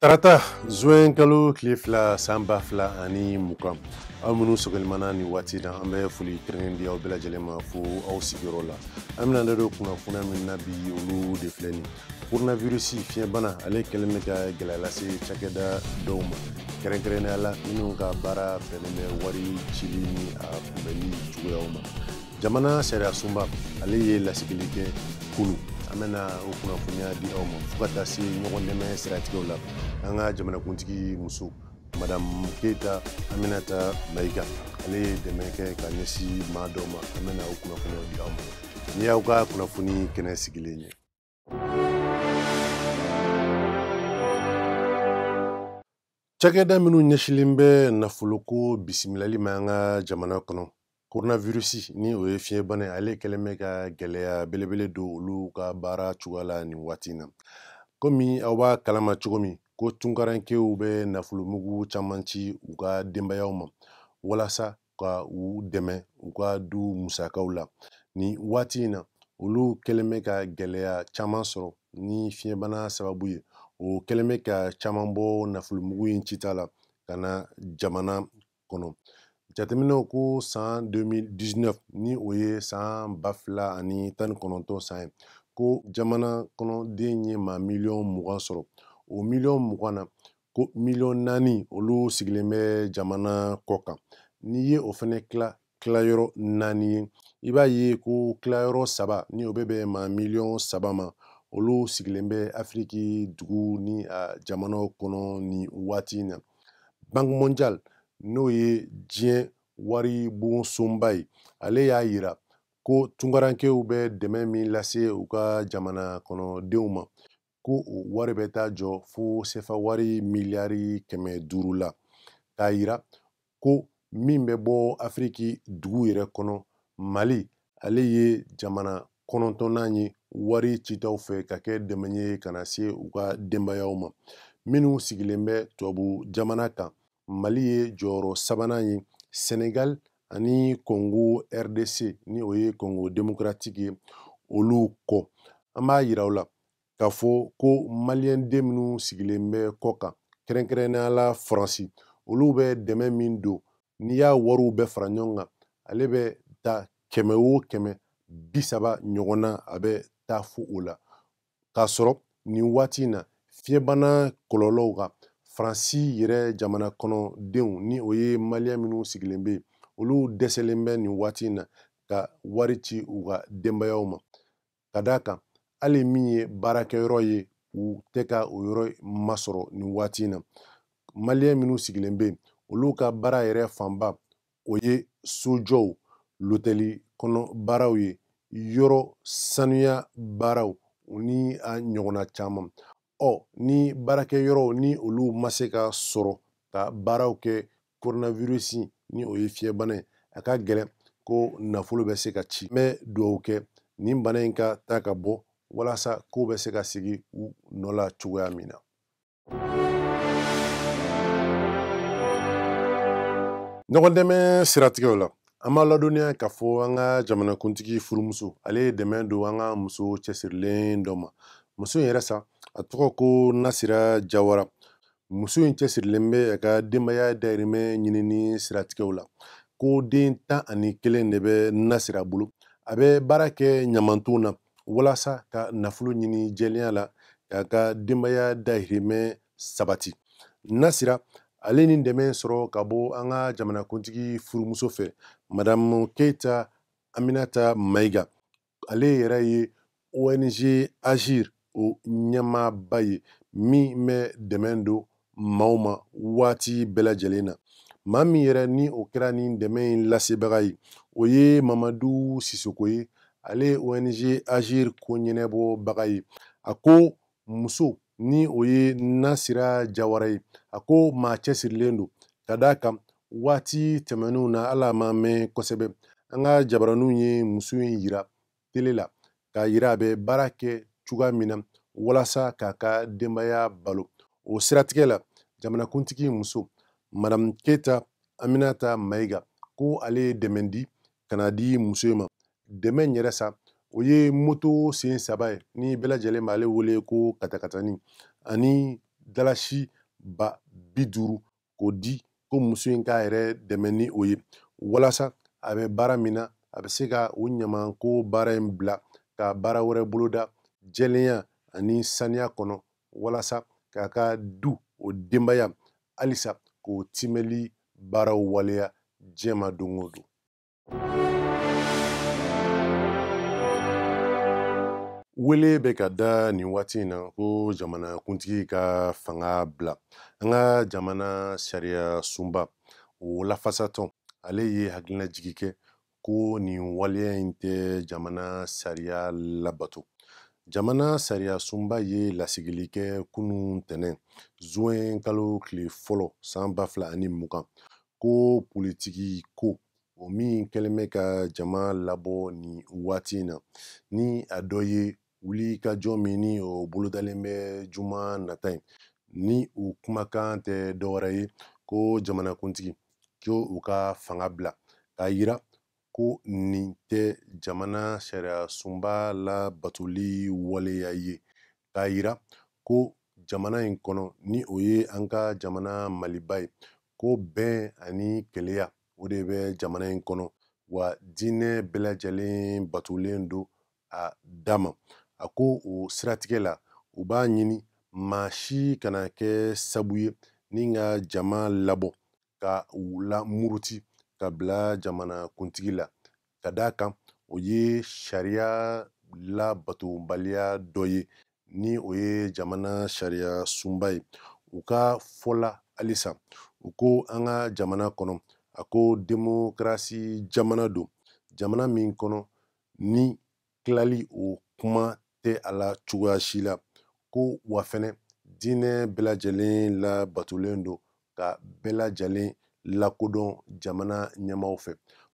tarata zuwɛn kalo tile fila san ba fila ani mugan aw minnu sɔgɔlen b'an na nin waati in na an bɛ foli kɛrɛnkɛrɛnnen di aw bɛɛ lajɛlen ma fo aw sigiyɔrɔ la an bɛna da don kunnafoniya min na bi olu de filɛ nin koronavirisi fiɲɛbana ale kɛlen bɛ ka gɛlɛya lase cakɛda dɔw ma kɛrɛnkɛrɛnnenya la minnu ka baara bɛnnen bɛ wari cili ni a kunbɛnni cogoyaw ma jamana sariyasunba ale ye lasigili kɛ kunu an bɛna o kunnafoniya di aw ma fo ka taa se ɲɔgɔn dɛmɛ siratigɛw la an ka jamanakuntigi muso madamu keyita aminata mayiga ale ye dɛmɛ kɛ ka ɲɛsin maa dɔ ma an bɛna o kunnafoniyaw di aw ma nin y'aw ka kunnafoni kɛnɛ sigilen ye cakɛda minnu ɲɛsinlen bɛ nafoloko bisimilali ma an ka jamana kɔnɔ koronavirisi ni o ye fiɲɛbana ye ale kɛlen bɛ ka gɛlɛya belebele don olu ka baara cogoya la nin waati in na komi aw b'a kalama cogo min ko tunkarankew bɛ nafolomugu caman ci u ka denbayaw ma walasa ka u dɛmɛ u ka du musakaw la nin waati in na olu kɛlen bɛ ka gɛlɛya caman sɔrɔ ni fiɲɛbana sababu ye o kɛlen bɛ ka caman bɔ nafolomugu in cita la ka na jamana kɔnɔ jateminɛw ko san 2019 ni o ye san ba fila ani tan ni kɔnɔntɔn san ye ko jamana kɔnɔden ye maa miliyɔn mugan sɔrɔ o miliyɔn mugan na ko miliyɔn naani olu sigilen bɛ jamana kɔkan n'i ye o fana tila tilayɔrɔ naani ye i b'a ye ko tilayɔrɔ saba ni o bɛ bɛn maa miliyɔn saba ma olu sigilen bɛ afiriki dugu ni a jamanaw kɔnɔ nin waati in na banki mondial n'o ye diɲɛ waribon sunba ye ale y'a yira ko tunkarankew bɛ dɛmɛ min lase u ka jamana kɔnɔdenw ma ko o wari bɛ taa jɔ fo sefa wari miliyari kɛmɛ duuru la k'a yira ko min bɛ bɔ afiriki dugu yɛrɛ kɔnɔ mali ale ye jamana kɔnɔntɔnnan ye wari citaw fɛ ka kɛ dɛmɛ ye ka na se u ka denbayaw ma minnu sigilen bɛ tubabu jamana kan mali ye jɔyɔrɔ sabanan ye senegal ani kongo rdc ni o ye kongo demokratiki ye olu kɔ an b'a yira aw la k'a fɔ ko maliyɛnden minnu sigilen bɛ kɔkan kɛrɛnkɛrɛnnenya la faransi olu bɛ dɛmɛ min don n'i y'a wariw bɛɛ fara ɲɔgɔn kan ale bɛ taa kɛmɛ o kɛmɛ bi saba ɲɔgɔn na a bɛ taa fo o la k'a sɔrɔ nin waati in na fiɲɛbana kɔlɔlɔw ka faransi yɛrɛ jamana kɔnɔdenw ni o ye maliyɛn minnu sigilen bɛ yen olu dɛsɛlen bɛ nin waati in na ka wari ci u ka denbayaw ma ka d'a kan hali min ye baarakɛyɔrɔ ye u tɛ ka o yɔrɔ masɔrɔ nin waati in na maliyɛn minnu sigilen bɛ yen olu ka baara yɛrɛ fanba o ye sojɔw lotɛli kɔnɔ baaraw ye yɔrɔ sanuya baaraw ni a ɲɔgɔnna caman ɔ ni baarakɛyɔrɔw ni olu ma se ka sɔrɔ ka baaraw kɛ coronavirus ni o ye fiɲɛbana ye a ka gɛlɛn ko nafolo bɛ se ka ci n bɛ dugawu kɛ nin bana in ka taa ka bɔ walasa kow bɛ se ka sigi u nɔ la cogoya min na ɲɔgɔn dɛmɛ siratigɛw la an b'a ladɔnniya k'a fɔ an ka jamanakuntigi furumuso ale ye dɛmɛ don an ka muso cɛsirilen dɔ ma muso in yɛrɛ sa a tɔgɔ ko nasira jawara muso in cɛsirilen bɛ a ka denbaya dayirimɛ ɲinini siratigɛw la ko den tan ani kelen de bɛ nasira bolo a bɛ baara kɛ ɲamanton na walasa ka nafolo ɲini jɛlenya la k'a ka denbaya dahirimɛ sabati nasira ale ni dɛmɛ sɔrɔ ka bɔ an ka jamanakuntigi furumuso fɛ madamu keyita aminata mayiga ale yɛrɛ ye ong agir o ɲɛmaaba ye min bɛ dɛmɛ don maaw ma waati bɛɛ lajɛlen na maa min yɛrɛ ni o kɛra nin dɛmɛ in lasebaga ye o ye mamadu sisoko ye ale ye ong agir ko ɲɛnabɔbaga ye a ko muso ni o ye nasira jawara ye a ko maa cɛsirilen don ka d'a kan waati tɛmɛnenw na hali a ma mɛn kosɛbɛ an ka jabaraninw ye muso in yira tele la k'a yira a bɛ baara kɛ cogoya min na walasa k'a ka denbaya balo o siratigɛ la jamanakuntigi muso madamu keyita aminata mayiga ko ale ye dɛmɛ di ka na di muso in ma dɛmɛ in yɛrɛ sa o ye moto sen saba ye ni bɛɛ lajɛlen b'ale wele ko katakatani ani dalasi ba bi duuru k'o di ko muso in k'a yɛrɛ dɛmɛ ni o ye walasa a bɛ baara min na a bɛ se ka o ɲamanko baara in bila ka baara wɛrɛ boloda jɛlenya ani saniya kɔnɔ walasa k'a ka du o denbaya halisa k'o timɛli baaraw waleya diɲɛ ma don o don Wele bɛ ka da nin waati in na ko jamanakuntigi ka fanga bila an ka jamana sariya sunba o lafasatɔn ale ye hakilinajigi kɛ ko nin waleya in tɛ jamana sariya labato jamana sariya sunba ye lasigili kɛ kunun tɛnɛn zuwɛn kalo tile fɔlɔ san ba fila ani mugan ko politiki ko o min kɛlen bɛ ka jama labɔ nin waati in na ni a dɔ ye wuli ka jɔ min ni o bolodalen bɛ juma nata in ni u kumakan tɛ dɔwɛrɛ ye ko jamanakuntigi ko u ka fanga bila k'a yira ko nin tɛ jamana sariya sunba labatoli waleya ye k'a yira ko jamana in kɔnɔ ni o ye an ka jamana maliba ye ko bɛn ani kelenya o de bɛ jamana in kɔnɔ wa diinɛ bɛɛ lajɛlen batolen don a dama a ko o siratigɛ la u b'a ɲini maa si kana kɛ sabu ye ni ka jama labɔ ka u lamuruti ka bila jamana kuntigi la ka d'a kan o ye sariya labatobaliya dɔ ye ni o ye jamana sariya sunba ye u ka fɔ la halisa u ko an ka jamana kɔnɔ a ko demokarasi jamana don jamana min kɔnɔ ni tilali o kuma tɛ a la cogoya si la ko wa fɛnɛ diinɛ bɛɛ lajɛlen labatolen don ka bɛɛ lajɛlen lakodɔn jamana ɲɛmaaw fɛ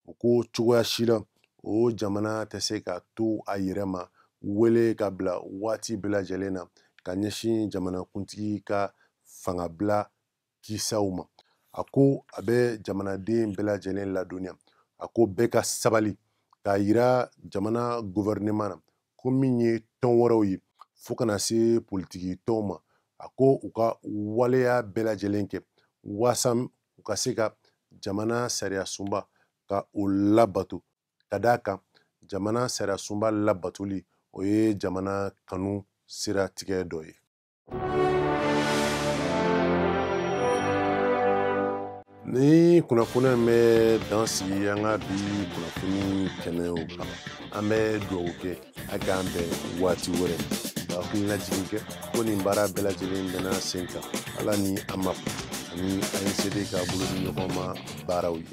u ko cogoya si la o jamana tɛ se ka to a yɛrɛ ma wele ka bila waati bɛɛ lajɛlen na ka ɲɛsin jamanakuntigi ka fangabila kisaw ma a ko a bɛ jamanaden bɛɛ lajɛlen ladɔnniya a ko bɛɛ ka sabali k'a yira jamana gɔvɛrɛneman na ko min ye tɔn wɛrɛw ye fo ka na se politiki tɔnw ma a ko u ka waleya bɛɛ lajɛlen kɛ waasa u ka se ka jamana sariya sunba ka o labato ka d'a kan jamana sariya sunba labatoli o ye jamana kanu siratigɛ dɔ ye nin kunnafoni in bɛ dan sigi an ka bi kunnafoni kɛnɛw kan an bɛ dugawu kɛ a k'an bɛn waati wɛrɛ ka hakilinajigin kɛ ko nin baara bɛɛ lajɛlen bɛna sen kan ala ni AMAP ani ANCD ka bolo di ɲɔgɔn ma baaraw ye